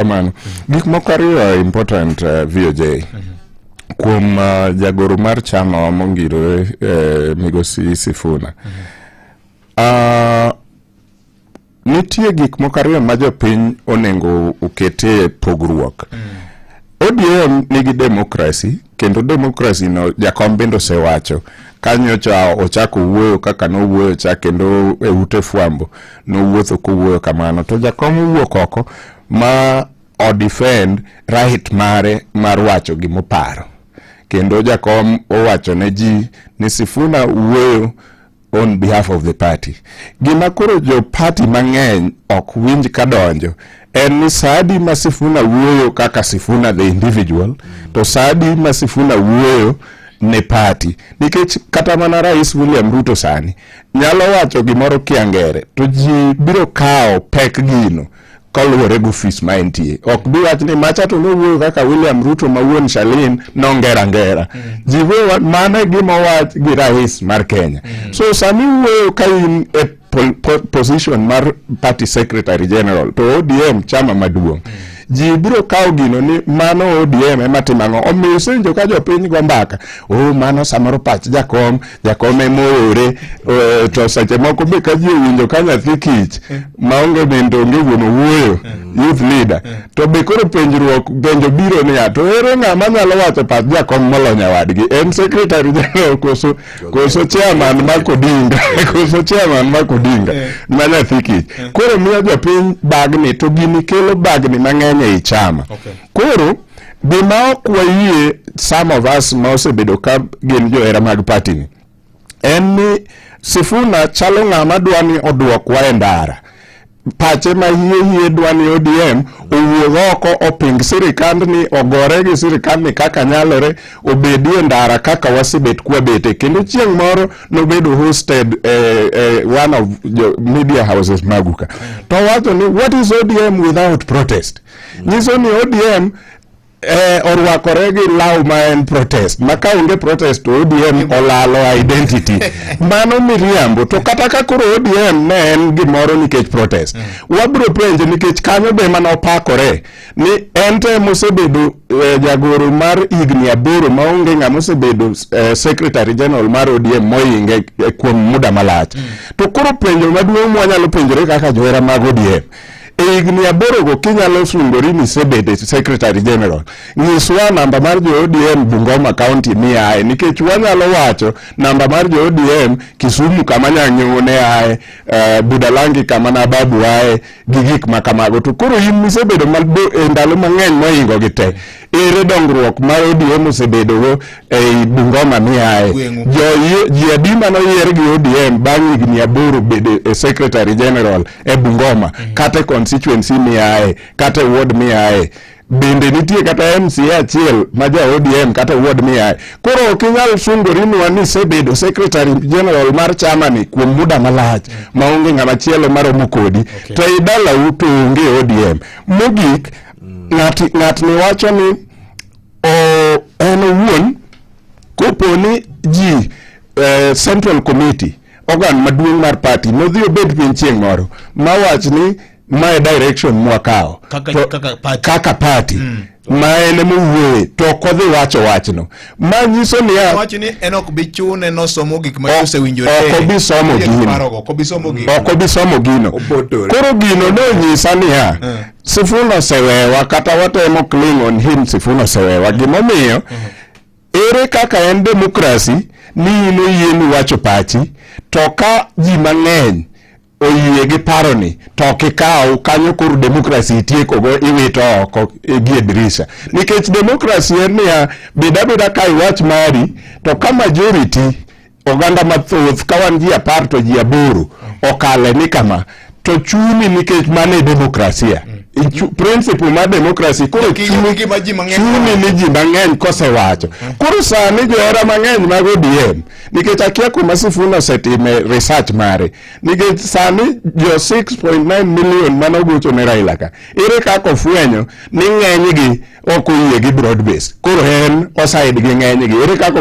kamano gik moko ariyo important uh, VOJ kuom uh, jagoro mar chama mongirore uh, migosi Sifuna uh, nitie gik moko ariyo ma jopiny onego okete pogruok mm. ODM nigi demokrasi kendo demokrasi no jakom bende osewacho kanyocha ochako wuoyo kaka nowuoyo cha kendo e ute fwambo nowuotho kowuoyo kamano to jakom owuok oko ma odefend right mare mar wacho gimoparo kendo jakom owacho ne ji ni Sifuna wuoyo on behalf of the party. Gima koro jo party mang'eny ok winj ka donjo en ni Saadi ma Sifuna wuoyo kaka Sifuna the individual to Saadi ma Sifuna wuoyo ne party nikech kata mana Rais William Ruto sani nyalo wacho gimoro kiangere to ji biro kawo pek gino kaluwore gi ofis ma entie. Ok bi wach ni macha to nowuoyo kaka William Ruto ma wuon Shalin nongera ngera. Mm. Ji wuoyo mano e gima wach gi rais mar Kenya. Mm. So sami wuoyo ka in e position mar party secretary general to ODM chama maduong'. Mm. ji biro kawo gino ni mano ODM ema timo ang'o. Omiyo isenjo ka jopiny go mbaka, oh mano samoro pach jakom jakome moore eh, to seche moko be ka ji owinjo ka nyathi kich eh. maonge nindo onge wuon owuoyo eh. youth leader to be koro penjruok penjo biro niya to ere ng'ama nyalo wacho pach jakom molony awadgi en secretary general koso koso chairman ma kodinga koso chairman ma kodinga ma nyathi kich koro miyo jopiny bagni to gini kelo bagni mang'eny ei chama koro Gima ok wayie some of us ma osebedo ka gin johera mag party ni en ni Sifuna chalo ng'ama dwa ni odwokwa e ndara pache ma hie hie dwa ni ODM owuog oko oping sirikand ni ogore gi sirikand ni kaka nyalore obedi e ndara kaka wasebet kwabete kendo chieng' moro nobedo hosted eh, eh, one of the media houses maguka to wacho ni what is ODM without protest nyiso ni ODM eh, orwakore gi law ma en protest ma ka onge protest to ODM olalo identity mano miriambo to kata ka koro ODM ne en gimoro nikech protest mm. wabiro penje nikech kanyo be mana opakore ni en te mosebedo eh, jagoro mar higni aboro ma onge ng'ama osebedo eh, secretary general mar ODM moinge eh, kuom muda malach mm. to koro penjo maduong' mwanyalo penjore kaka johera mag ODM e higni aborogo kinyalo sungori ni isebedo secretary general nyiswa namba mar jo odm bungoma county miaye nikech wanyalo wacho namba mar jo odm kisumu kama nyang'ewo ne aye uh, budalangi kama nababu aye gi gik ma kamago to koro in misebedo e ndalo mang'eny mohingo gi te ere dongruok ma ODM osebedogo ei Bungoma miaye ji adi mane oyier gi ODM bang' higni aboro bedo e secretary general e Bungoma mm. kata e constituency miaye kata e ward miaye bende nitie kata MCA achiel ma ja ODM kata ward miaye koro ok inyal sungori nwa ni isebedo secretary general mar chama ni kuom muda malach mm. maonge ng'ama chielo maromo kodi to idalau to onge ODM mogik ng'atni wacho ni en owuon kopo ni ji eh, central committee organ maduong' mar party nodhi obed piny chieng' moro mawach ni mae direction mwakawo kaka party mm. ma en mowuoye to ok odhi wacho wachno ma nyiso niya ok obi somo gino koro gino nonyisa niya eh. Sifuna osewewa kata watemo cling on him, Sifuna osewewa. Gimomiyo ere kaka en demokrasi ni in oyieni wacho pachi to ka ji mang'eny oyie gi paroni to ok ikaw kanyo koro demokrasi itiekogo iwito oko gie dirisha nikech demokrasi en niya beda beda ka iwach mari to ka majority Oganda mathoth ka wan ji apar to ji aboro okale ni kama to chuni nikech mano e demokrasia mm. principle mar demokrasi koro chuni ni ji mang'eny kosewacho mm. koro sani johera mang'eny mag odm nikech akia kuma sifuna osetime research mare nikech sani jo 6.9 million mane ogocho ne raila ka ere kaka ofwenyo ni ng'enygi ok oyie gi broad base koro en osaid gi ng'enygi ere kaka